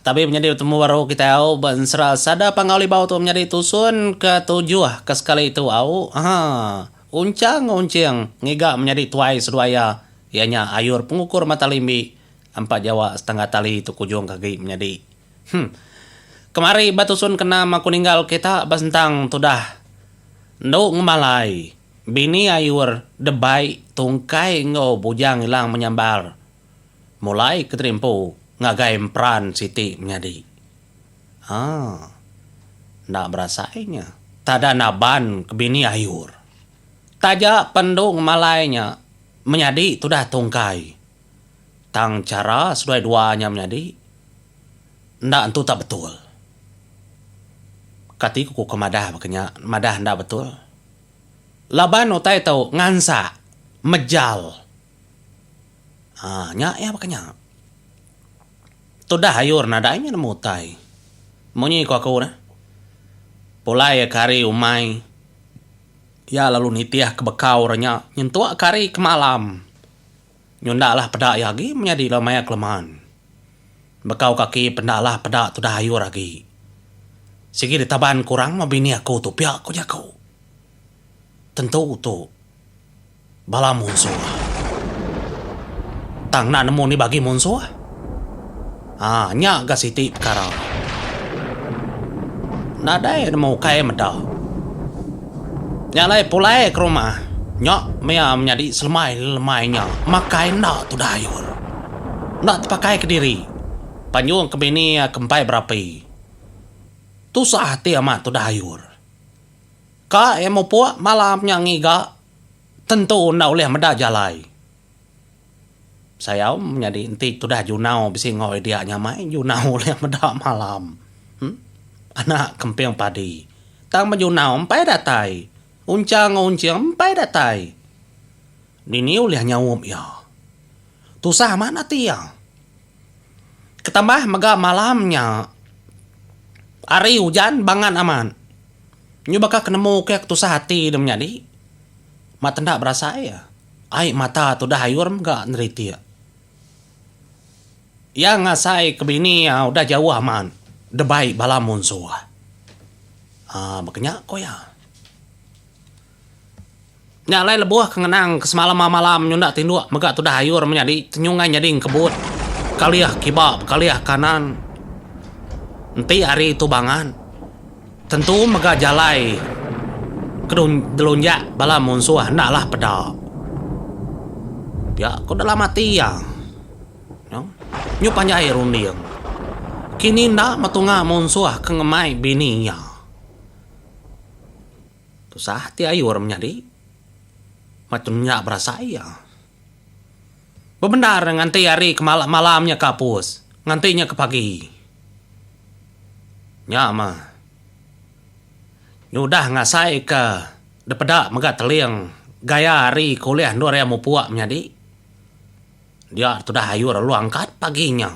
Tabi menyadi betemu baru kitai au ba ensera sada pangau libau tu menyadi tusun ke tujuh ke sekali tu au ha unchang unching ngiga menyadi tuai seduai iya iya nya ayur pengukur mata limbi empat jawa setengah tali tu kujung ke agi menyadi hmm kemari ba tusun ke enam aku ninggal kita ba sentang tudah endu ngemalai bini ayur debai tungkai enggau bujang ilang menyambar Mulai Kenteri Empu ngagai emperan siti menyadi. Haa. Enda berasai nya. Tada naban ke bini ayur. Taja pen endu ngemalai nya menyadi tudah tungkai. Tang chara seduai dua nya menyadi enda entu tak betul. Kati ku ke madah baka nya, madah enda betul. Laban utai tu ngansak, mejal. Aaa nya iya baka nya. Tudah ayor nadai nya nemu utai. Munyi ku aku neh pulai aku ari umai iya lalu nitih ke bekau re nya nyentuk aku ari ke malam nyunda lah peda iya agi menyadi ila maya ke leman. Bekau kaki pe enda lah peda tudah ayor agi. Sigi ditaban ke orang meh bini aku tu pia ku jaku. Tentu tu. Bala munsuh. Tang enda nemu ni bagi munsuh. Ha, nya ga siti pekara. Nadai nemu ukai meda. Nya alai pulai ke rumah. Nya maya menyadi selemai lemai nya makai enda tudah ayur. Enda tepakai kediri. Panjung ke bini ke empai berapi. Tusah ati amat tudah ayur. Ka iya mupuk malam nya ngiga tentu enda ulih meda jalai. Sayau menyadi enti tudah Junau bisi enggau idea nya mai Junau ulih meda malam. Anak kemping padi. Tang ba Junau empai datai. Unchang enggau unching empai datai. Dini ulih nyaup iya. Tusah amat ati iya. Ketambah mega malam nya hari ujan bangat amat. Nyu baka ke nemu ke ke tusah ati dia menyadi. Mak tenda berasai iya. Ai mata tudah ayur mega neritik. Iya ngasai ke bini iya udah jauh amat debai bala munsuh. Aa baka nya ku iya. Nya alai lebuh ke ngenang ke semalam enggau malam nyunda tinduk mega tudah ayur menyadi tenyungai nyadi engkebut bekalih kiba bekalih kanan enti hari tu bangat tentu mega jalai ke delunjak bala munsuh enda lah peda pia ko dalam ati iya nyu panjai runding kini enda metunga munsuh ke ngemai bini iya. Tusah ati ayu orang menyadi. Macam nya berasai iya. Bebendar nganti hari ke malam nya ke apus, nganti nya ke pagi. Nya mah nyudah ngasaika dipeda mega teling gaya hari ke ulih endur iya mupuk menyadi. Dia tudah ayu lalu angkat pagi nya.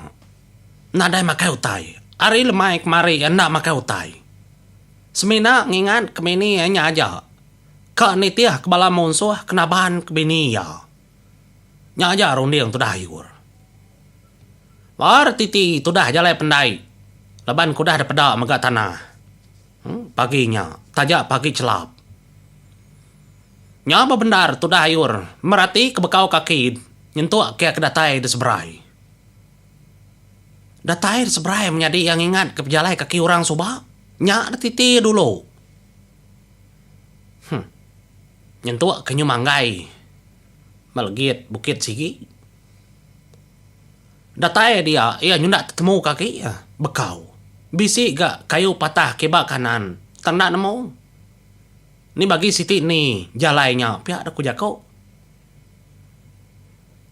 Nadai makai utai. Ari lemai kemari iya enda makai utai. Semina ngingat ke bini iya nya aja ka nitih ke bala munsuh ke naban ke bini iya. Nya aja runding tudah Iur. Baar titi tudah jalai pendai laban ke udah depeda mega tanah pagi nya taja pagi chelap. Nya bebendar tudah Iur meratika bekau kaki nyentuk kia ke datai diseberai. Datai da seberai menyadi iya ngingatka pejalai kaki orang suba nya da titi iya dulu. Huh. Nyentuk ke nyu manggai ba legit bukit sigi. Datai dia iya nyu enda tetemu kaki iya. Bekau. Bisi ga kayu patah kiba kanan tang enda nemu. Ni bagi siti ni jalai nya pia da ku jaku.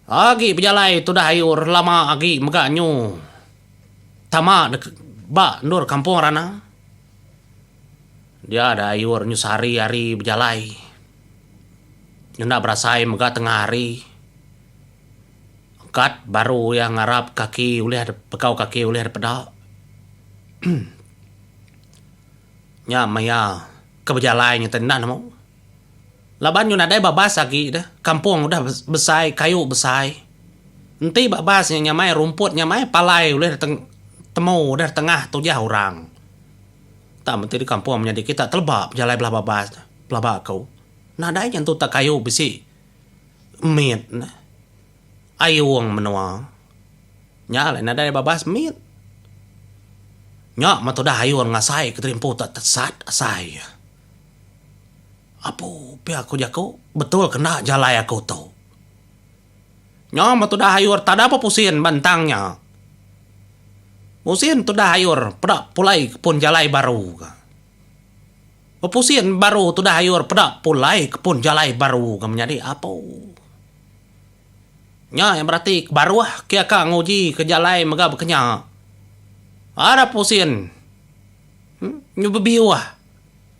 Agi bejalai tudah ayu relama agi mega nyu tama dek ba endur kampung Rana. Dia deh ayu nyu sehari hari bejalai ngena berasai mega tengah hari. Kad baru iya ngarap kaki ulih dep pekau kaki ulih dep peda. Nya maya ke bejalai ngetan enda nemu. Laban nyu nadai babas agi deh, kampung udah besai, kayu besai. Enti babas nya nyamai rumput nyamai palai ulih diteng temu udah ditengah tujah orang. Tang menti di kampung menyadi kita teleba bejalai bela babas deh pelaba aku. Nadai nya entu tak kayu bisi mit ne ayung menua. Nya alai nadai babas mit. Nya me tudah ayun ngasai ke terimpun tak tesat asai. Apu pia aku jaku betul ke enda jalai aku tu. Nyau ba tudah ayur tada pa pusin ba entang nya. Pusin tudah ayur peda pulai ke pun jalai baru ka. Bepusin baru tudah ayur peda pulai ke pun jalai baru ka menyadi apu. Nya iya berarti ke baruh ke ka nguji ke jalai mega ba kinya. Ada pusin. Nya bebiuh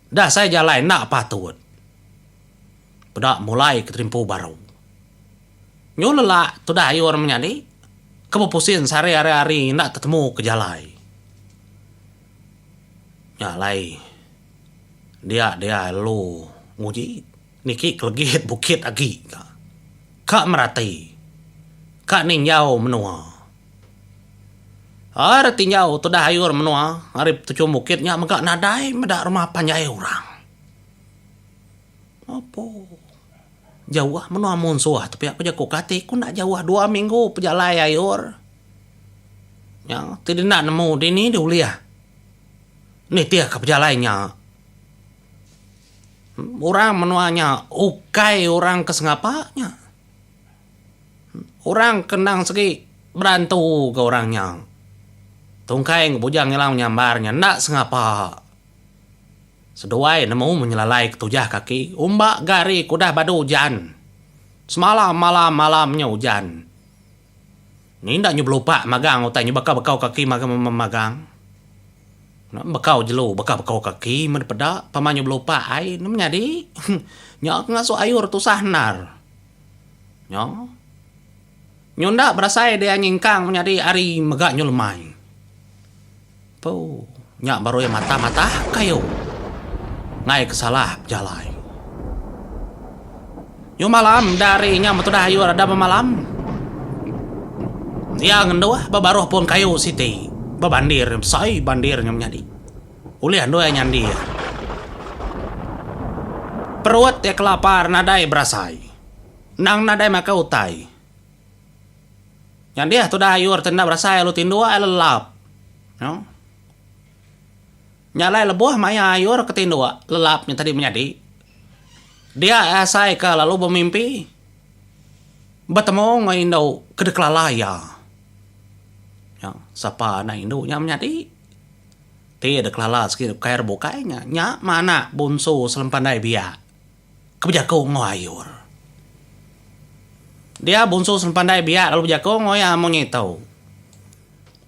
dah sai jalai enda patut. Peda mulai ke terimpu baru. Nyu lelak tudah ayu orang menyadi ke bepusin sehari hari-hari enda tetemu ke jalai. Nya alai dia dia lalu nguji. Niki kelegit bukit agi ka. Ka merati. Ka ninjau menua. Aa ari tinjau tudah ayur menua ari petuchum bukit nya mega nadai meda rumah panjai orang. Apo. Jauh menua munsuh tu pia ku jaku kati ku enda jauh dua minggu pejalai ayur nya ti denda nemu dini diulih nitih ka pejalai nya. Orang menua nya ukai orang ke sengapa nya. Orang ke endang segi berantuka orang nya. Tungkai enggau bujang ila menyambar nya enda sengapa. Seduai nemu menyelalai ketujah kaki umba gari ke udah badu ujan. Semalam malam malam nya ujan. Ni enda nyu belupak magang utai nyu baka bekau kaki magang. Bekau jelu baka bekau kaki men dipeda pama nyu belupak ai inu meh nyadi. Nya ke ngasu ayur tusah endar. Nyo. Nyu enda berasai dianyengkang menyadi ari mega nyu lemai. Pau. Nya baru iya matah matah kayu. Ngaii ke salah bejalai. Nyu malam enda ari inya metudah ayu reda bemalam. Iya ngenduh ba baruh pun kayu siti ba bandir besai bandir nya menyadi. Ulih andu iya nyandi iya. Perut iya kelapar nadai berasai. Endang nadai makai utai. Nya deh tudah ayu reti enda berasai lalu tinduk ai lelap. No. Nya alai lebuh maya ayu ke tinduk lelap nya tadi menyadi. Dia asai ke lalu bemimpi betemu enggau indu ke dikelala iya. Nya sapa anak indu nya menyadi ti dikelala siti ukai re bukai nya nya manak bunsu sempandai biak. Ke bejaku enggau ayur. Dia Bunsu Sempandai biak lalu bejaku enggau iya amun iya tau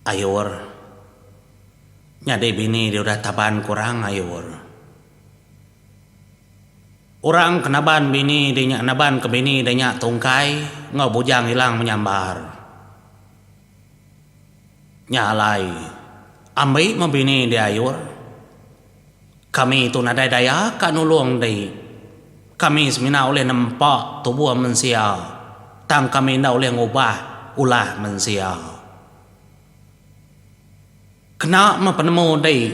ayur nyadi bini dia udah taban kurang ayur. Orang ke naban bini dia nya naban ke bini dia nya tungkai enggau bujang ilang menyambar. Nya alai ambi meh bini dia ayur. Kami tu nadai daya ka nulung deh. Kami semina ulih nempa tubuh mensia, tang kami enda ulih ngubah ulah mensia. Kena meh penemu deh.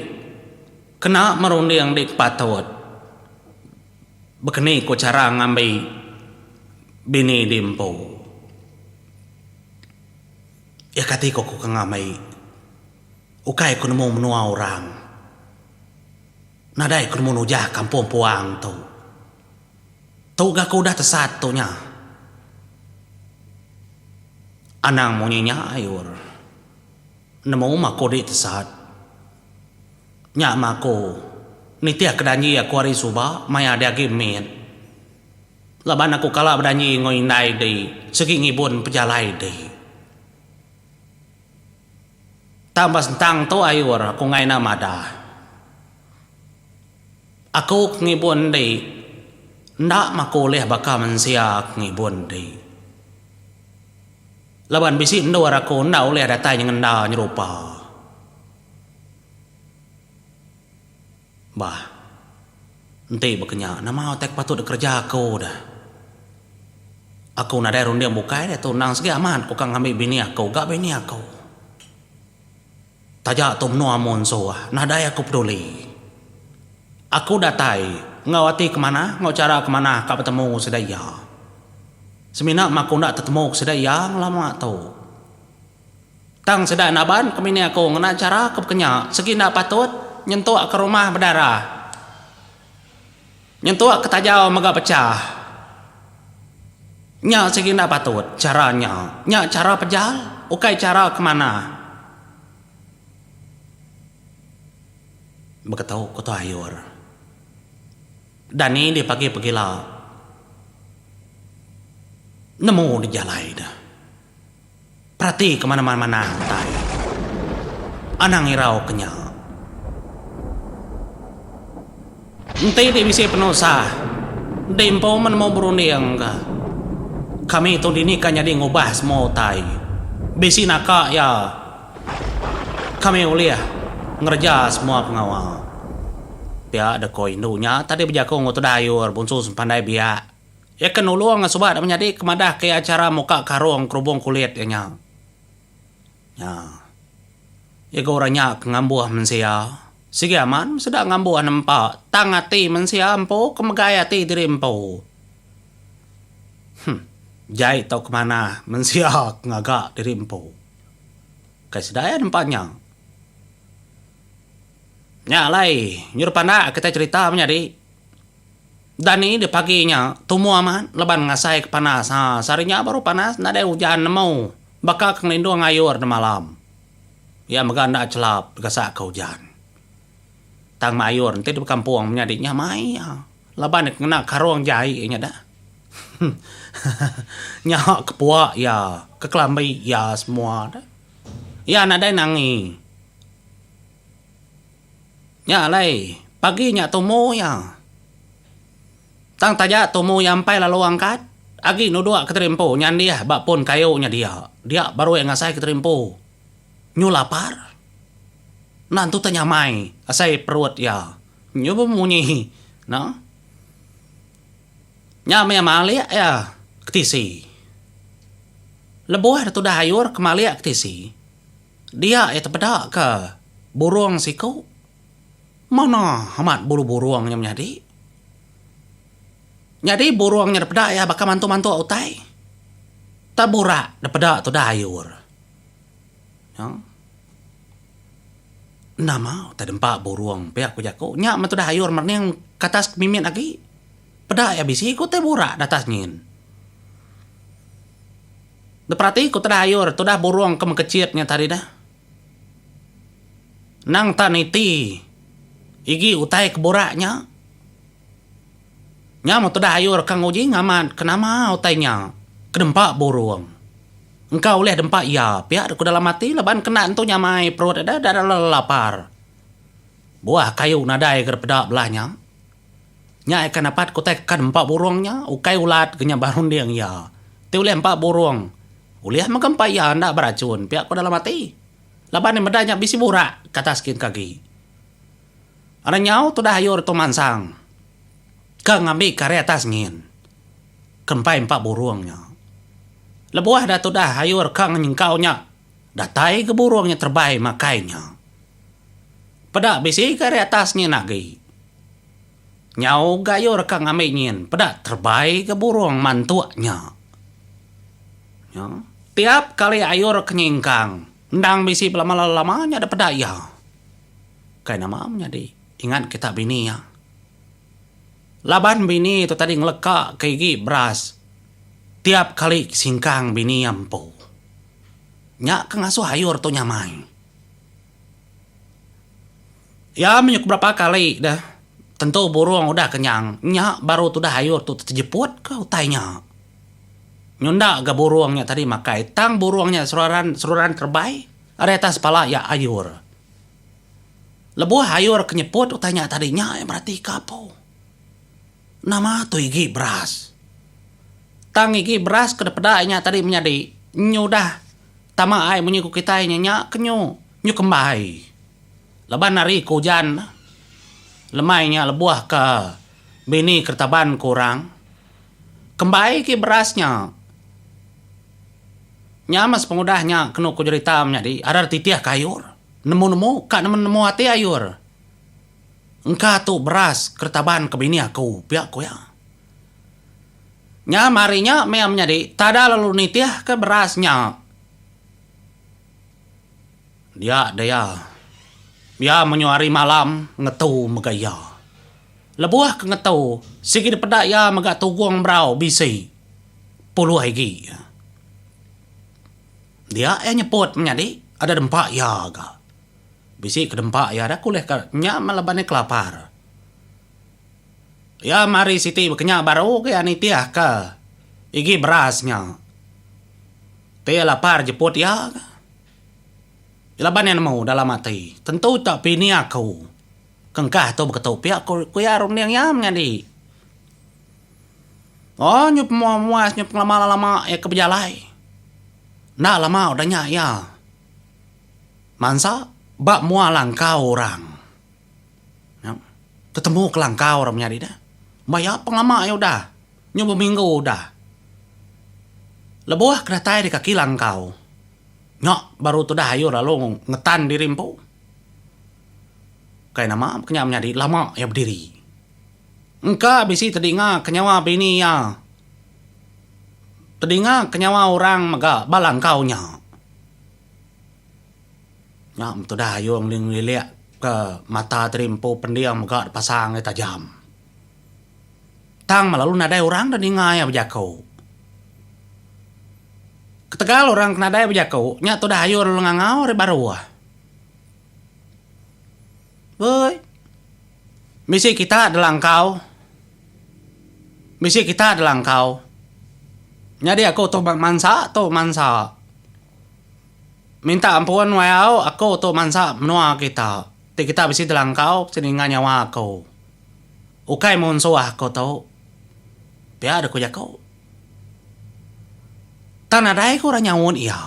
Kena meh runding deh ke patut. Bekeni ku chara ngambi bini di empu. Iya kati ku ke ngambi. Ukai ku nemu menua orang. Nadai ku nemu nujah kampung puang tu. Tu ga ku udah tesat tu nya. Anang munyi nya ayur. Nemu maku di tesat. Nya maku nitih ke danji aku ari suba maya di agi mit. Laban aku kala bedanji enggau indai di sigi ngibun pejalai di. Tang ba sentang tu ayur aku ngaina madah. Aku ke ngibun di enda maku ulih baka mensia ke ngibun di. Laban bisi endur aku enda ulih datai nyengenda nyerupa. Bah. Enti baka nya, nama utai ke patut dikereja aku dah? Aku nadai runding bukai diatu endang sigi amat ku ka ngambi bini aku ga bini aku. Taja tu menua amu ensuh, nadai aku peduli. Aku datai enggau ati ke manah, enggau chara ke manah ka betemu enggau sida iya. Semina meh aku enda tetemu ke sida iya ngelama tu. Tang sida naban ke mini aku ngena chara ke bekenya segi enda patut nyentuk ke rumah bedara, nyentuk ke tajau mega pechah. Nya segi enda patut chara nya. Nya chara pejal, ukai chara ke manah. Beketu ku Tuan Ayur. Dani dipagi pegila nemu dijalai ne. Peratika mana manah utai. Anang irau ke nya. Enti ti bisi penusah di empu menemu berunding ka. Kami tu dini ka nyadi ngubah semua utai. Bisi naka iya kami ulih ngereja semua pengawa. Pia deka indu nya tadi bejaku enggau tudah ayur Bonsu Sempandai Biak. Iya ke nulung suba deka menyadi ke madah ke iya chara muka karung kerubung kulit iya nya. Nya. Iya ke orang nya ke ngambuh mensia. Sigi amat meh sida ngambuh nempa tang ati mensia empu ke megai ati diri empu. Huh. Jai tau ke manah mensia ke ngaga diri empu. Kai sida iya nempa nya. Nya alai, nyuruh pandak kitai cherita menyadi. Dani di pagi nya tumu amat laban ngasaika panas. Ha, sehari nya baru panas nadai ujan nemu. Baka ke ngelindung ngayor di malam. Iya mega enda chelap digasaka ujan. Tang mayor enti di bekampung menyadi nya mai iya laban iya kena karung jai iya nyada. Hehehe. Nya kepuak iya, kekelambi iya semua. Iya nadai nangi. Nya alai, pagi nya tumu iya. Tang taja tumu iya empai lalu angkat, agi nuduk Kenteri Empu nyandih ba pun kayu nya dia. Dia baru iya ngasai Kenteri Empu nyu lapar. Endang tu tah nyamai asai perut iya. Nyu pun munyi no. Nya meh iya malik iya ke tisi. Lebuh dah tudah ayur ke malik ke tisi. Dia iya tepeda ka burung siku. Mana amat bulu burung nya menyadi. Nyadi burung nya dipeda iya baka mantuk-mantuk utai. Tang burak dipeda tudah ayur. Nyau. Enda mau utai dempa burung pia ku jaku. Nya meh tudah ayur merening ke atas ke mimit agi. Peda iya bisi ku utai burak da atas nyin. Diperati ku Tedah Ayur, tudah burung ke mengkechit nya tadi dah. Endang tah niti igi utai ke burak nya. Nya meh Tedah Ayur ke nguji ngamat ke nama utai nya ke dempa burung. Engka ulih dempa iya pia deka dalam ati laban kenda entu nyamai perut deda dada lapar. Buah kayu nadai ga dipeda belah nya. Nya ikan dapat kutai kekan empa burung nya ukai ulat ke nya berunding iya. Ti ulih empa burung. Ulih mega empa iya enda beracun pia ko dalam ati. Laban iya meda nya bisi burak ke atas kin ke agi. Ari nyau tudah ayu Ritu Mansang ke ngambi ke ari atas ngin ke empai empa burung nya. Lebuh da tudah ayu reka ngenyengkau nya. Datai ke burung nya terebai makai nya. Peda bisi ke ari atas nyin agi. Nyau ga ayo reka ngambi nyin peda terebai ke burung mantuk nya. Nya, tiap kali ayo reka nyingkang endang bisi bela mala lama nya dek peda iya. Kai nama menyadi ingat kita bini iya. Laban bini tu tadi ngeleka ke igi beras tiap kali singkang bini iya empu. Nya ke ngasuh ayur tu nyamai. Iya menyuh ke berapa kali deh tentu burung udah kenyang nya baru tudah ayur tu tejeput ke utai nya. Nyunda ga burung nya tadi makai tang burung nya seruran seruran kerebai ari atas pala iya ayur. Lebuh ayur ke nyeput utai nya tadi nya iya beratika apu. Nama tu igi beras? Tang igi beras ke dipeda inya tadi menyadi nyu udah tama ai munyi ku kitai nya nya ke nyu, nyu kembai. Laban ari ke ujan lemai nya lebuh ke bini keretaban ku orang, kembai igi beras nya. Nya meh sepengudah nya kenu ku jerita menyadi, arar titih ke ayur, nemu-nemu ka nemu-nemu ati ayur. Engka tu beras keretaban ke bini aku, pia ku iya. Nyam ari nya meh menyadi tada lalu nitihka beras nya. Dia deh iya. Pia menyuh ari malam ngetu mega iya. Lebuh ke ngetu, sigi dipeda iya mega tugong berau bisi puluh igi. Dia iya nyeput menyadi ada dempa iya ga. Bisi ke dempa iya dah kulih ka nya meh laban iya kelapar. Iya mari siti baka nya baru ga iya nitih ka igi beras nya. Ti iya lapar jeput iya ka. Laban iya nemu dalam ati, tentu tak pini aku ke engkah tu baka tu pia ku ku iya runding iya menyadi. Oh nyu pemua muas nyu pengelama lama iya ke bejalai. Enda lama udah nya iya. Mansa ba mua langkau orang. Nyau. Tetemu kelangkau orang menyadi dah. Ba iya pengelama iya udah. Nyu beminggu udah. Lebuh ke datai di kaki langkau. Nya baru tudah ayu lalu ngetan diri empu. Kai nama kenya menyadi lama iya bediri. Engka bisi tedinga ke nyawa bini iya. Tedinga ke nyawa orang mega ba langkau nya. Nya betudah ayo ngelilik ka mata tadi empu pending mega dipasang aye tajam. Tang lalu nadai orang da ninga iya bejaku. Ketegal orang ke nadai bejaku nya tudah ayo lalu ngangau ari baruh. Woi bisi kita da langkau bisi kita da langkau nyadi aku tu mansa tu mansa. Minta ampun wai au aku tu mansa menua kita ti kita bisi jelangkau bisi ninga nyawa aku. Ukai munsuh aku tu. Pia deh ku jaku. Tang nadai ku orang nyaut iya.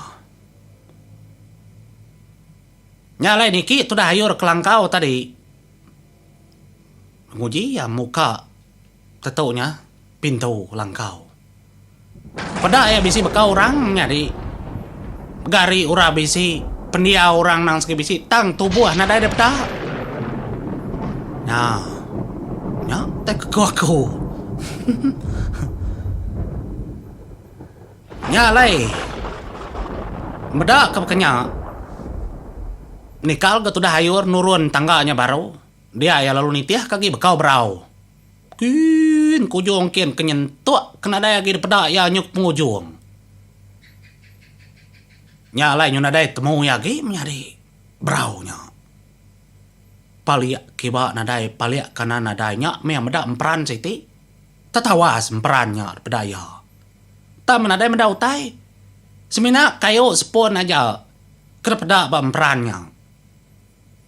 Nya alai niki tudah ayu rak kelangkau tadi. Nguji iya muka tetu nya pintu langkau. Peda iya bisi baka orang nyadi mega ari orang bisi pendiau orang nang sigi bisi tang tubuh nadai deh peda. Nya nya tai ke aku. Nya alai meda ke baka nya nikal ga tudah ayur nurun tangga nya baru dia iya lalu nitih ka agi baka berau. Kin, kujung kin ke nyentuk ke nadai agi dipeda iya nyuk pengujung. Nya alai nyun nadai temu iya agi menyadi berau nya. Palik kiba nadai palik kanan nadai nya meh meda emperan siti. Tetawas emperan nya dipeda iya. Tang men nadai meda utai, semina kayu sepun aja ke dipeda ba emperan nya.